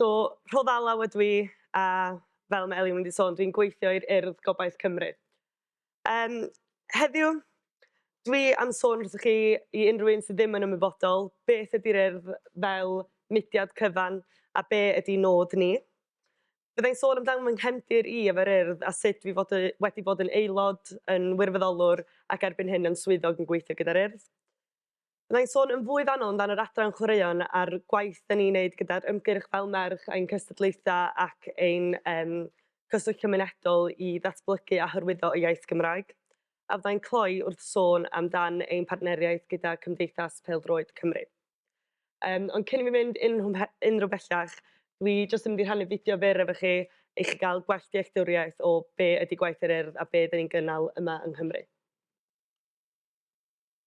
So, Rhodd Alaw ydw i, a fel mae Elin wedi sôn, dwi'n gweithio i'r Urdd Gobaith Cymru. Um, heddiw, dwi am sôn wrthych chi i unrhyw un sydd ddim yn ymwybodol beth ydy'r Urdd fel mudiad cyfan a be ydy nod ni. Byddai'n sôn amdano fy nghefndir i efo'r urdd a sut fi fod, wedi bod yn aelod, yn wirfoddolwr ac erbyn hyn yn swyddog yn gweithio gyda'r urdd. Fydda i'n sôn yn fwy fanno amdan yr adran chwaraeon a'r gwaith da ni'n neud gyda'r ymgyrch Fel Merch ein cystadlaethau ac ein um, cyswllt cymunedol i ddatblygu a hyrwyddo y iaith Gymraeg. A fydda i'n cloi wrth sôn amdan ein partneriaeth gyda Cymdeithas Peldroed Cymru. Um, ond cyn i mi fynd unrhyw bellach, dwi jyst yn mynd i rhannu fideo fyr efo chi i chi gael gwell dealltwriaeth o be ydy gwaith yr urdd a be dyn ni'n gynnal yma yng Nghymru.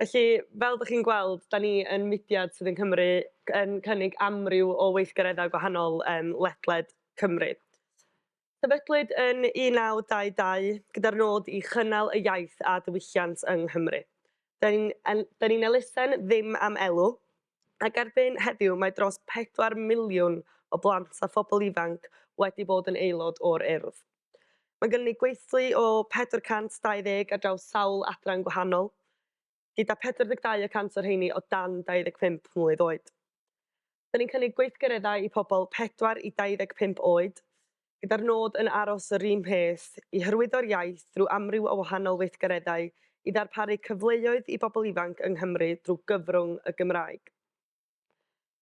Felly, fel dych chi'n gweld, da ni yn mudiad sydd yn Cymru yn cynnig amryw o weithgareddau gwahanol um, ledled Cymru. Sefydlwyd yn 1922 gyda'r nod i chynnal y iaith a diwylliant yng Nghymru. Da ni'n ni elusen ddim am elw, ac erbyn heddiw mae dros pedwar miliwn o blant a phobl ifanc wedi bod yn aelod o'r Urdd. Mae gynnon ni gweithlu o 420 ar draws sawl adran gwahanol, gyda 42 y cant o'r rheiny o dan 25 mlwydd oed. Dyn ni'n cynnig gweithgareddau i pobl 4 i 25 oed, gyda'r nod yn aros yr un peth, i hyrwyddo'r iaith drwy amryw o wahanol weithgareddau i ddarparu cyfleoedd i bobl ifanc yng Nghymru drwy gyfrwng y Gymraeg.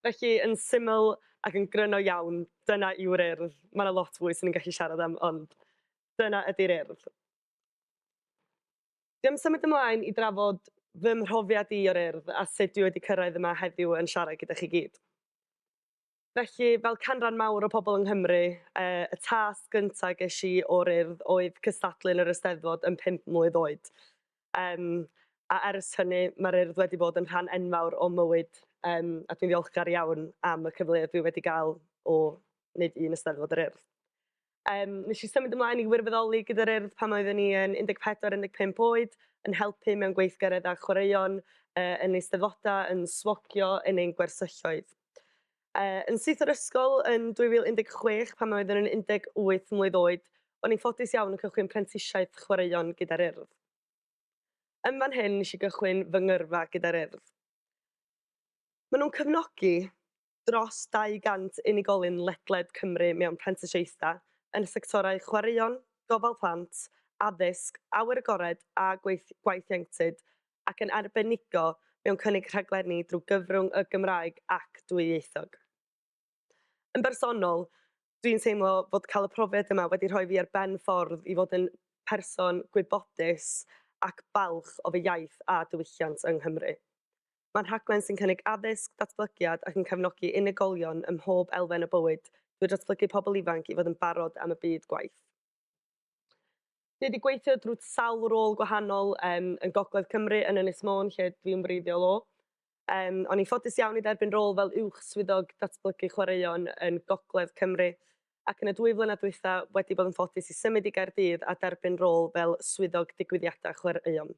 Felly, yn syml ac yn gryno iawn, dyna yw'r Urdd. Mae yna lot fwy 'swn i'n gallu siarad am, ond dyna ydy'r Urdd. Dwi am symud ymlaen i drafod fy mhrofiad i o'r Urdd a sut dwi wedi cyrraedd yma heddiw yn siarad gyda chi gyd. Felly, fel canran mawr o pobl yng Nghymru, yy y tasg gynta ges i o'r Urdd oedd cystadlu yn yr Eisteddfod yn pump mlwydd oed. Yym, a ers hynny, mae'r Urdd wedi bod yn rhan enfawr o'm mywyd, yym, a dwi'n ddiolchgar iawn am y cyfleoedd dwi wedi gael o wneud un Eisteddfod yr Urdd. Yym, nes i symud ymlaen i wirfoddoli gyda'r Urdd pan oeddwn i yn 14, 15 oed, yn helpu mewn gweithgareddau chwaraeon, yy, yn eisteddfodau, yn swogio, yn ein gwersylloedd. Yy, yn syth o'r ysgol yn 2016 pan oeddwn yn 18 mlwydd oed, o'n i'n ffodus iawn yn cychwyn prentisiaeth chwaraeon gyda'r Urdd. Yn fan hyn nes i gychwyn fy ngyrfa gyda'r Urdd. Maen nhw'n cefnogi, dros 200 unigolyn ledled Cymru mewn prentisiaethau yn y sectorau chwaraeon, gofal plant, addysg, awyr agored a gwaith ieuenctid, ac yn arbenigo mewn cynnig rhaglenni drwy gyfrwng y Gymraeg ac dwyieithog. Yn bersonol, dwi'n teimlo fod cael y profiad yma wedi rhoi fi ar ben ffordd i fod yn person gwybodus ac balch o fy iaith a diwylliant yng Nghymru. Mae'n rhaglen sy'n cynnig addysg, datblygiad ac yn cefnogi unigolion ym mhob elfen o bywyd drwy ddatblygu pobl ifanc i fod yn barod am y byd gwaith. Dwi wedi gweithio drwy sawl rôl gwahanol um, yn Gogledd Cymru, yn Ynys Môn, lle dwi'n wreiddiol o. Um, o'n i'n ffodus iawn i dderbyn rôl fel uwch swyddog datblygu chwaraeon yn Gogledd Cymru, ac yn y dwy flynedd dwytha wedi bod yn ffodus i symud i Gaerdydd a derbyn rôl fel swyddog digwyddiadau chwaraeon.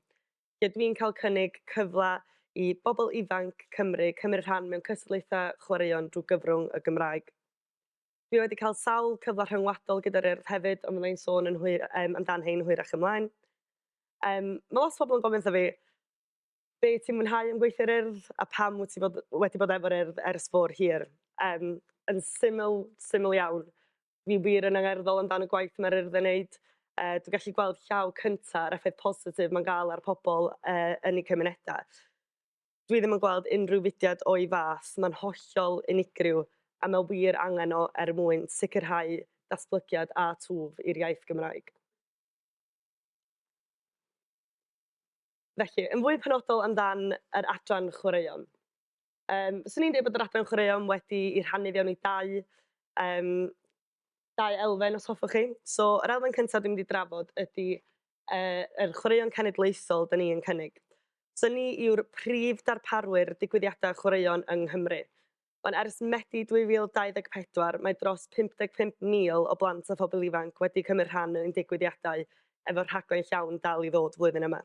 lle dwi'n cael cynnig cyfle i bobl ifanc Cymru cymryd rhan mewn cystadlaethau chwaraeon drwy gyfrwng y Gymraeg. Dwi wedi cael sawl cyfle rhyngwladol gyda'r Urdd hefyd, ond fydda i'n sôn yn hwy, um, amdan hein hwyrach ymlaen. Um, mae lot o bobl yn gofyn wrtho fi, be ti'n mwynhau am gweithio'r Urdd a pam wyt ti bod, wedi bod efo'r Urdd ers fôr hir? Um, yn syml, syml iawn, Ni wir yn angerddol amdan y gwaith mae'r Urdd yn wneud. Uh, dwi'n gallu gweld llaw cyntaf a'r effaith positif mae'n gael ar pobl uh, yn eu cymunedau. Dwi ddim yn gweld unrhyw fudiad o'i fath, mae'n hollol unigryw a mae wir angen o er mwyn sicrhau datblygiad a twf i'r iaith Gymraeg. Felly, yn fwy penodol amdan yr adran chwaraeon. Um, Swn i'n dweud bod yr adran chwaraeon wedi i rhannu fewn i dau, um, dau elfen os hoffwch chi. So, yr elfen cyntaf dwi'n mynd i drafod ydy uh, yr chwaraeon cenedlaethol dyn ni'n cynnig. So ni yw'r prif darparwyr digwyddiadau chwaraeon yng Nghymru. Ond ers Medi 2024, mae dros 55,000 o blant a phobl ifanc wedi cymryd rhan yn digwyddiadau efo rhaglen llawn dal i ddod flwyddyn yma.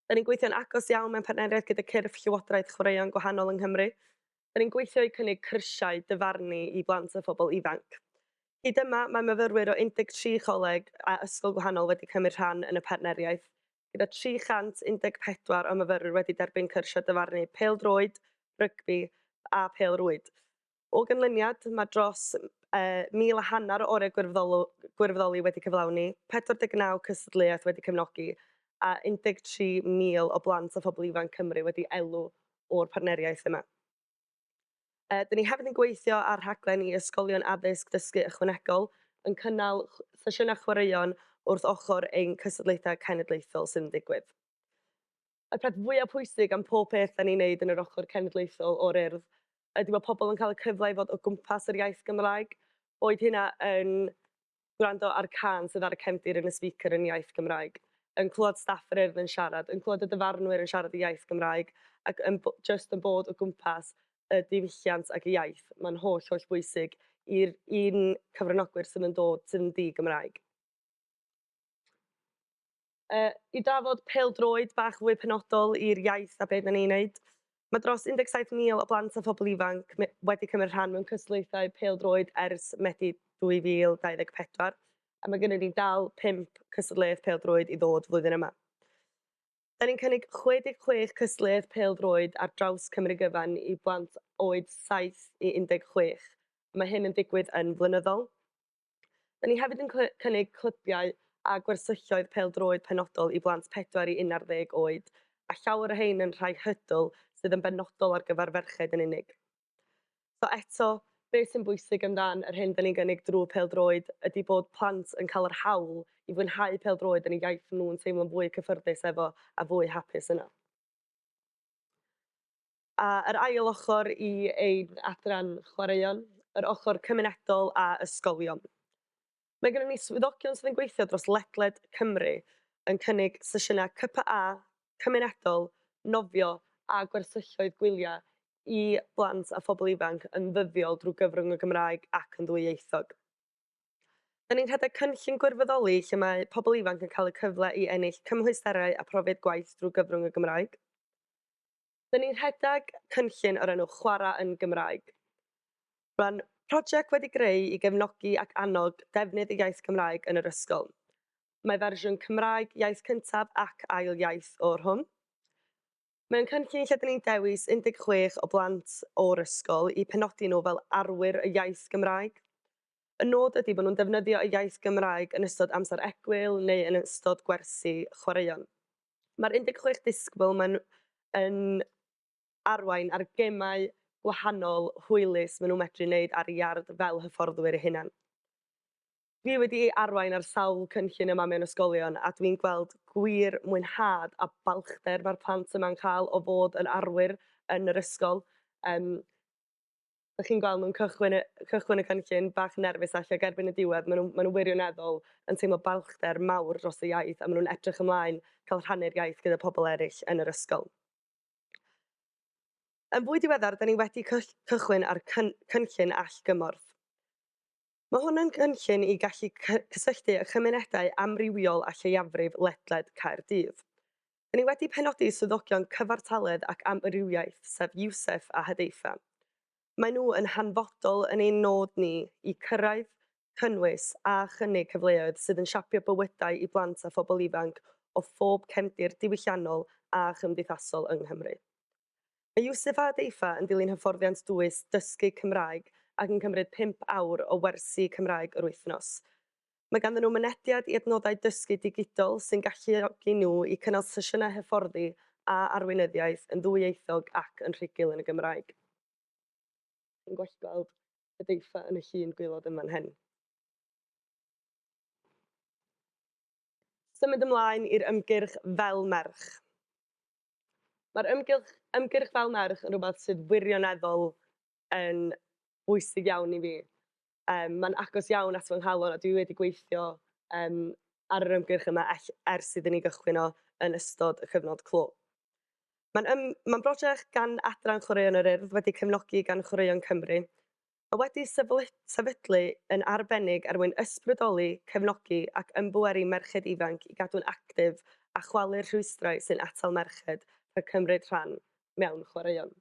Dan ni'n gweithio'n agos iawn mewn partneriaeth gyda cyrff Llywodraeth chwaraeon gwahanol yng Nghymru. Dan ni'n gweithio i cynnig cyrsiau dyfarnu i blant a phobl ifanc. Hyd yma, mae myfyrwyr o 13 coleg a ysgol gwahanol wedi cymryd rhan yn y partneriaeth, gyda 314 o myfyrwyr wedi derbyn cyrsiau dyfarnu pêl-droed, rygbi a phêl-rwyd. O ganlyniad, mae dros 1,000 a hanner o orau gwirfoddoli wedi cyflawni, 49 cystadleuaeth wedi cefnogi a 13,000 o blant a phobl ifanc Cymru wedi elw o'r partneriaeth yma. Dyn ni hefyd yn gweithio ar rhaglen i ysgolion addysg dysgu ychwanegol, yn cynnal sesiynau chwaraeon wrth ochr ein cystadlaethau cenedlaethol sydd yn digwydd. y peth fwya pwysig am pob peth 'dan ni'n neud yn yr ochor cenedlaethol o'r Urdd ydi bo' pobol yn ca'l y cyfle i fod o gwmpas yr iaith Gymraeg, boed hynna yn gwrando ar cân sydd ar y cefndir yn y speaker yn iaith Gymraeg, yn clwad staff yr Urdd yn siarad, yn clwad y dyfarnwyr yn siarad y iaith Gymraeg, ac yn b- jyst yn bod o gwmpas y diwylliant ag y iaith. Ma'n holl holl bwysig i'r i'n cyfranogwyr sydd yn dod sydd yn ddi-Gymraeg. Uh, I drafod peldroed bach fwy penodol i'r iaith a beth na ni'n neud, mae dros 17,000 o blant a phobl ifanc wedi cymryd rhan mewn cystadlaethau peldroed ers Medi 2024, a mae gennym ni dal 5 cystadleuaeth peldroed i ddod flwyddyn yma. Da ni'n cynnig 66 cystadleuaeth peldroed ar draws Cymru gyfan i blant oed 7 i 16, a mae hyn yn digwydd yn flynyddol. Da ni hefyd yn cynnig clybiau a gwersylloedd pêl-droed penodol i blant 4 i 11 oed, a llawer o rhain yn rhai hurdle sydd yn benodol ar gyfer ferched yn unig. So eto, beth sy'n bwysig amdan yr hyn da ni'n gynnig drwy pêl-droed ydy bod plant yn cael yr hawl i fwynhau pêl-droed yn y iaith nhw'n teimlo'n fwy cyffyrddus efo a fwy hapus yno. A yr ail ochr i ein adran chwaraeon, yr ochr cymunedol a ysgolion. Mae gennym ni swyddogion sydd yn gweithio dros ledled Cymru yn cynnig sesiynau CPA, cymunedol, nofio a gwersylloedd gwyliau i blant a phobl ifanc yn ddyddiol drwy gyfrwng y Gymraeg ac yn ddwyieithog. Da ni'n rhedeg cynllun gwirfoddoli lle mae pobl ifanc yn cael y cyfle i ennill cymhwysterau a phrofiad gwaith drwy gyfrwng y Gymraeg. 'dyn ni'n rhedeg cynllun o'r enw 'Chwarae yn Gymraeg'. Mae'n prosiect wedi greu i gefnogi ac annog defnydd y iaith Gymraeg yn yr ysgol. Mae fersiwn Cymraeg iaith cyntaf ac ail iaith o'r hwn. Mae o'n cynllun lle 'dyn ni'n dewis 16 o blant o'r ysgol i penodi nhw fel arwyr y iaith Gymraeg. Y nod ydi bod nhw'n defnyddio y iaith Gymraeg yn ystod amser egwyl neu yn ystod gwersi chwaraeon. Mae'r 16 disgybl maen nhw yn arwain ar gemau gwahanol hwylus maen nhw'n medru wneud ar iard fel hyfforddwyr eu hunain. Dwi wedi arwain ar sawl cynllun yma mewn ysgolion a dwi'n gweld gwir mwynhad a balchder mae'r plant yma'n cael o fod yn arwyr yn yr ysgol. Yym. Dych chi'n gweld nhw'n cychwyn y cychwyn y cynllun bach nerfus ella ac erbyn y diwedd maen nhw maen nhw wirioneddol yn teimlo balchder mawr dros y iaith a maen nhw'n edrych ymlaen cael rhannu'r iaith gyda pobl eraill yn yr ysgol. Yn fwy diweddar, da ni wedi cychwyn ar cyn cynllun allgymorth. Mae hwn yn gynllun i gallu cysylltu â chymunedau amrywiol a lleiafrif ledled Caerdydd. Dŷn ni wedi penodi swyddogion cyfartaledd ac amrywiaeth, sef Yousef a Hudayfa. Maen nhw yn hanfodol yn ein nod ni i cyrraedd, cynnwys a chynnig cyfleoedd sydd yn siapio bywydau i blant a phobl ifanc o phob cefndir diwylliannol a chymdeithasol yng Nghymru. Mae Yousefa a Deifa yn dilyn hyfforddiant dwys dysgu Cymraeg ac yn cymryd pump awr o wersi Cymraeg yr wythnos. Mae ganddyn nhw mynediad i adnoddau dysgu digidol sy'n galluogi nhw i cynnal sesiynau hyfforddi a arweinyddiaeth yn ddwyieithog ac yn rhugl yn y Gymraeg. Chi'n gwell gweld y Deifa yn y llun gwaelod yn fan hyn. Symud ymlaen i'r ymgyrch Fel Merch. Mae'r ymgylch, ymgyrch fel merch yn rhywbeth sydd wirioneddol yn bwysig iawn i fi. Um, mae'n agos iawn at fy nghalon a dwi wedi gweithio um, ar yr ymgyrch yma ers iddyn ni gychwyn o yn ystod y cyfnod clo. Mae'n um, mae brosiect gan Adran Chwaraeon yr Urdd wedi cefnogi gan Chwaraeon Cymru a wedi sefydlu yn arbennig er mwyn ysbrydoli, cefnogi ac ymbweru merched ifanc i gadw'n actif a chwalu'r rhwystrau sy'n atal merched rhag cymryd rhan mewn chwaraeon.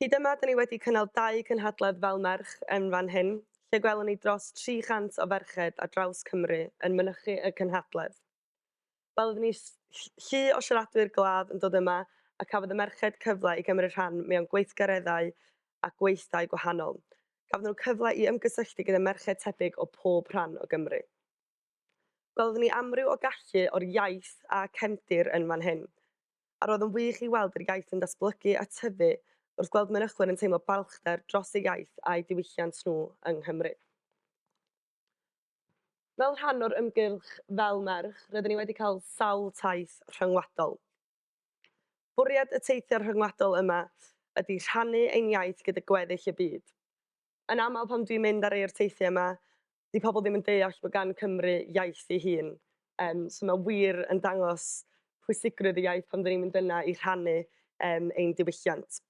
Hyd yma, da ni wedi cynnal dau gynhadledd fel merch yn fan hyn, lle gwelwn ni dros 300 o ferched ar draws Cymru yn mynychu y cynhadledd. Wel, oeddwn ni llu o siaradwyr glaf yn dod yma a cafodd y merched cyfle i gymryd rhan mewn gweithgareddau a gweithdai gwahanol. Cafodd nhw cyfle i ymgysylltu gyda merched tebyg o pob rhan o Gymru. Gwelodd ni amryw o gallu o'r iaith a cefndir yn fan hyn, a roedd yn wych i weld yr iaith yn datblygu a tyfu wrth gweld mynychwyr yn teimlo balchder dros eu iaith a'u diwylliant nhw yng Nghymru. Fel rhan o'r ymgyrch Fel Merch, rydyn ni wedi cael sawl taith rhyngwladol. Bwriad y teithiau rhyngwladol yma ydy rhannu ein iaith gyda gweddill y byd. Yn aml pan dwi'n mynd ar rei o'r teithiau yma, 'di pobl ddim yn deall bod gan Cymru iaith ei hun. Yym, so mae wir yn dangos pwysigrwydd y iaith pan 'dyn ni'n mynd yna i rhannu yym ein diwylliant.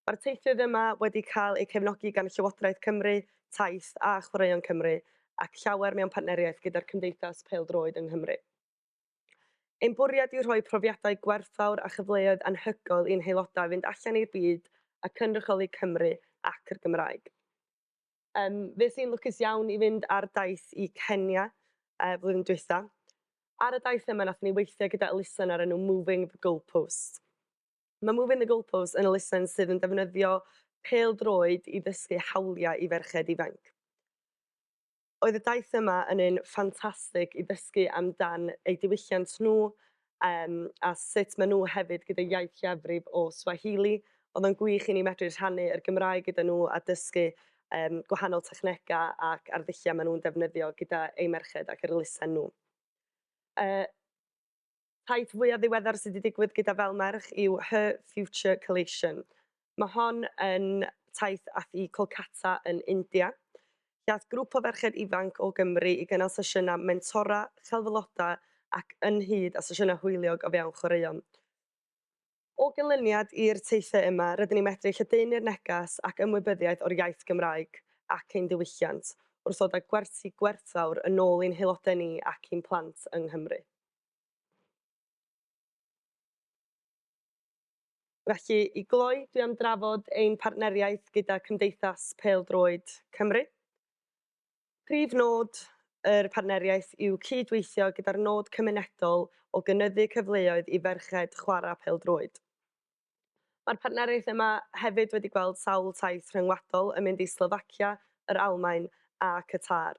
Mae'r teithwyr yma wedi cael eu cefnogi gan Llywodraeth Cymru, Taith a Chwaraeon Cymru ac llawer mewn partneriaeth gyda'r Cymdeithas Pêl-droed yng Nghymru. Ein bwriad yw rhoi profiadau gwerthfawr a chyfleoedd anhygoel i'n haelodau fynd allan i'r byd a cynrychioli Cymru ac yr Gymraeg. Yym, fues i'n lwcus iawn i fynd ar daith i Kenya yy flwyddyn dwytha. Ar y daith yma nathon ni weithio gyda elusen o'r enw Moving the Goalposts. Mae Moving the Goalposts yn elusen sydd yn defnyddio pêl-droed i ddysgu hawliau i ferched ifanc. Oedd y daith yma yn un ffantastig i ddysgu amdan eu diwylliant nhw um, a sut maen nhw hefyd gyda iaith lleiafrif o Swahili. Oedd o'n gwych i ni medru rhannu yr Gymraeg gyda nhw a dysgu um, gwahanol technegau ac arddulliau maen nhw'n defnyddio gyda eu merched ac yr elusen nhw. Uh, Peth fwya ddiweddar sy 'di digwydd gyda Fel Merch yw Her Future Collation. Mae hon yn taith ath i Kolkata yn India, lle ath grŵp o ferched ifanc o Gymru i gynnal sesiynau mentora, celf aelodau ac ynghyd â sesiynau hwyliog o fewn chwaraeon. O ganlyniad i'r teithiau yma, rydyn ni'n medru lledaenu'r neges ac ymwybyddiaeth o'r iaith Gymraeg ac ein diwylliant, wrth ddod â gwersi gwerthfawr yn ôl i'n haelodau ni ac i'n plant yng Nghymru. Felly, i gloi, dwi am drafod ein partneriaeth gyda Cymdeithas Pêl-droed Cymru. Prif nod yr partneriaeth yw cyd-weithio gyda'r nod cymunedol o gynyddu cyfleoedd i ferched chwarae pêl-droed. Mae'r partneriaeth yma hefyd wedi gweld sawl taith rhyngwladol yn mynd i Slofacia, yr Almaen a Qatar.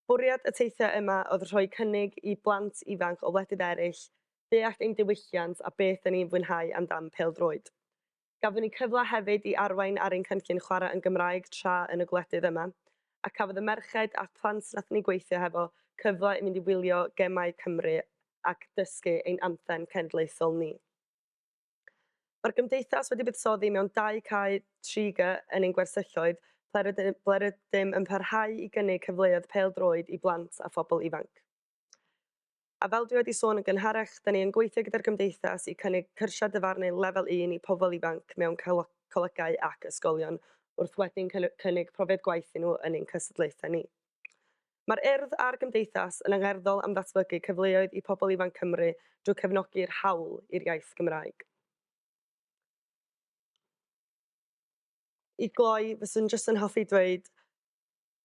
Bwriad y teithiau yma oedd rhoi cynnig i blant ifanc o wledydd eraill ddeall ein diwylliant a beth 'da ni'n fwynhau amdan pêl-droed. Gafon ni cyfle hefyd i arwain ar ein cynllun chwarae yn Gymraeg tra yn y gwledydd yma, a cafodd y merched a'r plant nathon ni gweithio hefo cyfle i mynd i wylio gemau Cymru ac dysgu ein anthem cenedlaethol ni. Mae'r Gymdeithas wedi buddsoddi mewn dau cae 3G yn ein gwersylloedd ble rydym yn parhau i gynnig cyfleoedd pêl-droed i blant a phobl ifanc. A fel dwi wedi sôn yn gynharach, 'da ni yn gweithio gyda'r Gymdeithas i cynnig cyrsiau dyfarnu Lefel Un i pobl ifanc mewn colegau ac ysgolion wrth wedyn cynnig profiad gwaith i nhw yn ein cystadlaethau ni. Mae'r Urdd a'r Gymdeithas yn angerddol am ddatblygu cyfleoedd i pobl ifanc Cymru drwy cefnogi'r hawl i'r iaith Gymraeg. I gloi, fyswn jyst yn hoffi dweud,